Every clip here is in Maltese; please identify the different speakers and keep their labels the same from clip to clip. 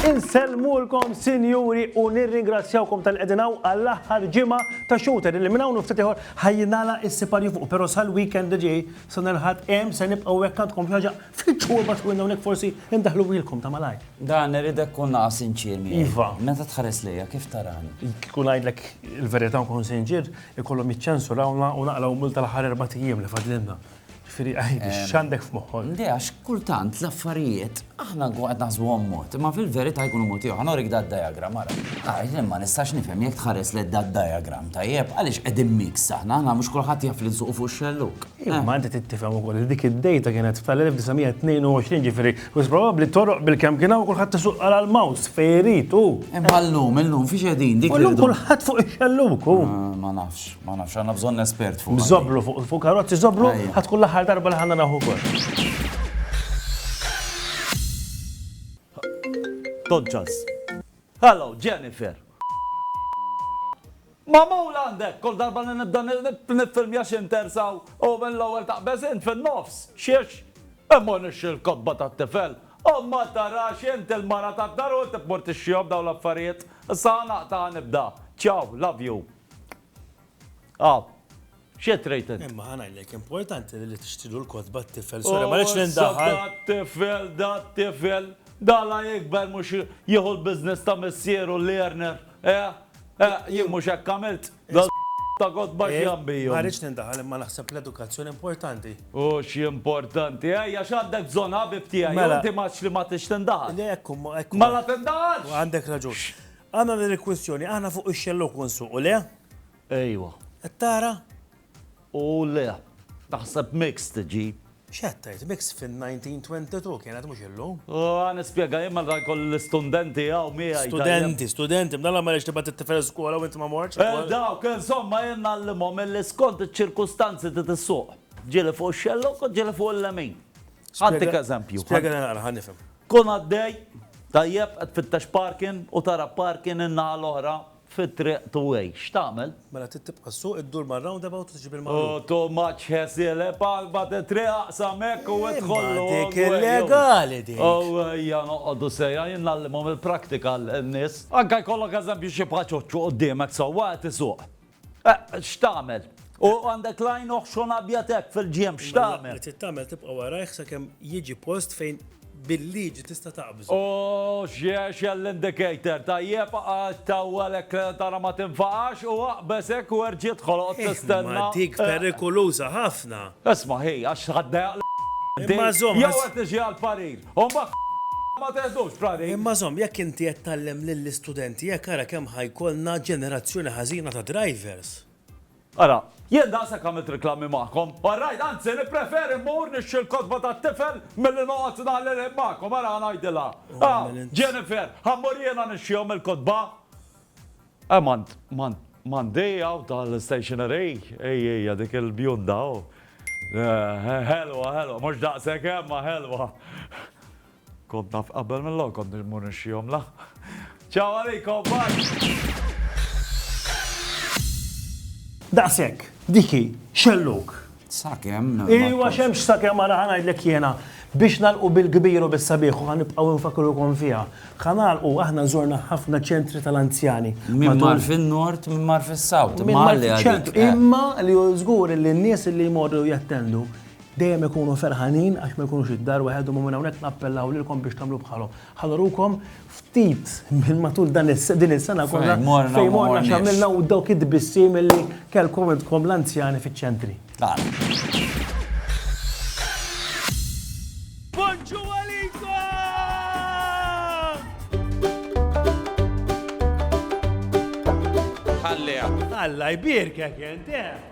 Speaker 1: Insellmulkom sinjuri u nirringrazzjawkom tal qegħdin hawn għall-aħħar ġimgħa ta' shooter li minn hawn u ftit ieħor ħajjinala s-siparju fuq però sal-weekend li ġej sa nerħad hemm se nibqgħu hekk għandkom xi ħaġa fil-ġuba twinna hawnhekk forsi ndaħluhielkom ta' malajr. Dan irid ikun
Speaker 2: naqa' sinċier miegħi. Iva. Meta tħares
Speaker 1: lejja, kif
Speaker 2: tarani? Kieku ngħidlek
Speaker 1: il-verità u nkun sinċier, ikollhom jiċċensurawna u naqlgħu mult tal-aħħar erbat ijiem li fadlilna. Ġifieri għidi, x'għandek f'moħħok? Le għax kultant
Speaker 2: l-affarijiet aħna nkunu qed naħsbuhom mod, imma fil-verità jkunu mod ieħor. Norik da d-diagram, ara. Ara, jien ma nistax nifhem jekk tħares lejn da d-diagram, tajjeb, għaliex qegħdin mix aħna, aħna mhux kulħadd jaf li nsuqu fuq xelluk. Imma inti trid tifhem
Speaker 1: ukoll li dik id-dejta kienet tal-1922 ġifieri U probabbli toroq bil-kemm kien hawn kulħadd isuq għal l-mouse fejn irid u. Imma llum, illum
Speaker 2: fiex qegħdin dik. Illum kulħadd fuq
Speaker 1: ix-xelluk hu. Ah, ma nafx, ma
Speaker 2: nafx, għandna bżonn espert fuq. Żoblu fuq fuq karozzi
Speaker 1: żoblu ħadd kull aħħar darba li ħanna naħu kol.
Speaker 3: Dodgers. Hello, Jennifer. Magħmul għand hekk, kull darba li nibda niffilmja xi intersa u mill-ewwel taqbeż int fin-nofs. Xiex? Immur nixtri l-kotba tat-tifel. U ma tarax int il-mara tad-dar u inti tmur tixtrihom dawn l-affarijiet? Issa ħa naqta' ħa nibda. Ciao, love you. Aw. X'qed tgħid int? Imma ħa ngħidlek, importanti
Speaker 1: li tixtrilu l-kotba t-tifel, sorry, ma rridx nindaħal. Oh, dat-tifel, dat-tifel,
Speaker 3: dala jikber mhux jieħu l-business ta' missieru learner, eh? Eh, jien mhux hekk għamilt. Ta' kotba eh, x'jambiju. Ma rridx nindaħal imma
Speaker 1: naħseb l-edukazzjoni importanti. U
Speaker 3: x'importanti, ejja x'għandek bżonn ħabib tiegħi, mela- inti maċ li ma tix tindaħal. Le ekku, ekku. Mela tindaħalx. Għandek raġun.
Speaker 1: Għandna din il-kwistjoni, aħna fuq ix-xellu kun suq, u le? Ejwa.
Speaker 3: Qed tara?
Speaker 1: U
Speaker 3: le. Taħseb mixed iġib. X'qed tgħid,
Speaker 1: mixed fin-1922 kienet mhux illum. Haa nispjega jien
Speaker 3: meta jkolli l-istundenti hawn miegħi tajjeb. Studenti, studenti, bdala m'għaliex
Speaker 1: tibgħat it-tifel skola u int ma mortx. Eh dawk, insomma
Speaker 3: jien ngħallimhom milli skont iċ-ċirkustanzi trid issuq. Ġieli fuq ix-xellug u ġieli fuq il-lemin. Ħantik eżempju. Spjegana naqra ħa nifhem.
Speaker 1: Tkun għaddej,
Speaker 3: tajjeb, qed tfittex parking u tara parking in-naħa l-oħra fit-triq two-way. X'tagħmel? Mela trid tibqa' ssuq,
Speaker 1: iddur mar-roundabout u tiġi bil-maqlub. Oh, too much hassle,
Speaker 3: eh? Palpat it-triq, aqsam hekk u idħol l-walkway. Imma dik illegali
Speaker 1: dik! Oh, ejja noqogħdu
Speaker 3: sejra, jien ngħallimhom il-prattika lin-nies. Anke jkollok eżempju xi bħal ċoċċu quddiemek sewwa qed isuq. Eh, x'tagħmel? U għandek l-għajn oħxon abjad hekk fil-ġienb, x'tagħmel? Mela li trid tagħmel tibqa' warajh
Speaker 1: sakemm jiġi post fejn bil-liġi tista' taqbżu. Ohh x'jgħexel
Speaker 3: l-indicator, tajjeb għax tawwel hekk li tara ma tinfaqax u aqbeż hekk u erġi' idħol oqgħod tistenna. Imma dik perikuluża
Speaker 1: ħafna. Isma' hi għax
Speaker 3: ħadd dejjaq lil inti. Imma żomm.
Speaker 1: Jew qed niġi għall-parir.
Speaker 3: U mbagħad ma teħdux parir. Imma żomm jekk inti qed
Speaker 1: tgħallem lill-istudenti hekk ara kemm ħa jkollna ġenerazzjoni ħażina ta' drivers. Ara,
Speaker 3: jien daqshekk għamilt riklami magħkom. All right, anzi nippreferi mmur nixtri l-kotba tat-tifel milli noqgħod ngħalli l-ħin magħkom, ara ħa ngħidilha. Aw, Jennifer, ħa mmur jiena nixtrihom il-kotba. Eh, m'għand, m'għand, m'għandi hawn tal-stationery, hi, hija dik il-bjunda, oh. Eh, ħelwa, ħelwa, mhux daqshekk, imma ħelwa. Kont naf qabel mill-ewwel kont immur nixxihom la. Ciao għalikom, bye!
Speaker 1: Daqshekk, dik hi, xellug. Sakemm.
Speaker 2: Iwa xemx
Speaker 1: sakemm ara ħanajdlek jiena biex nalqu bil-kbir u bis-sabiħ u ħanibqgħu nfakrukom fiha. Ħanalqu aħna żorna ħafna ċentri tal-anzjani. Min mar
Speaker 2: fin-nord, min mar fis-sawt. Imma
Speaker 1: li żgur li n-nies li jmorru jattendu Dejjem ikunu ferħanin għax ma jkunux id-dar waħedhom u minn hawnhekk nappellaw lilkom biex tagħmlu bħalhom. Ħa nurukom ftit minn matul dan din is-sena kollha fejn morna x'għamilna u dawk it-tbissim li kellkom intkom l-anzjani fiċ-ċentri. Alla jbierkek int, eh!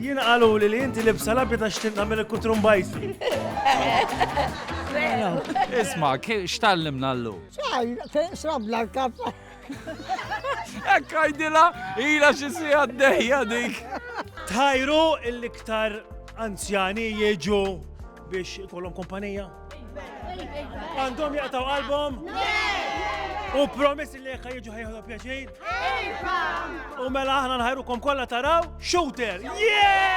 Speaker 1: Jiena qaluli li inti libsa labja ta' xtin tagħmel il-kutrumbajsi.
Speaker 3: Isma, x'tallimna l-lu? Xaj, srabla
Speaker 4: l-kap. Ekk
Speaker 3: għajdila, ila xisi għaddejja dik. Tajru
Speaker 1: l-iktar anzjani jieġu biex ikollhom kumpanija? Għandhom jaqtaw qalbhom? U promiss li jekk jiġu ħajħdu pjaċir? U mela aħna nħajrukom kollha taraw shooter! Yeah!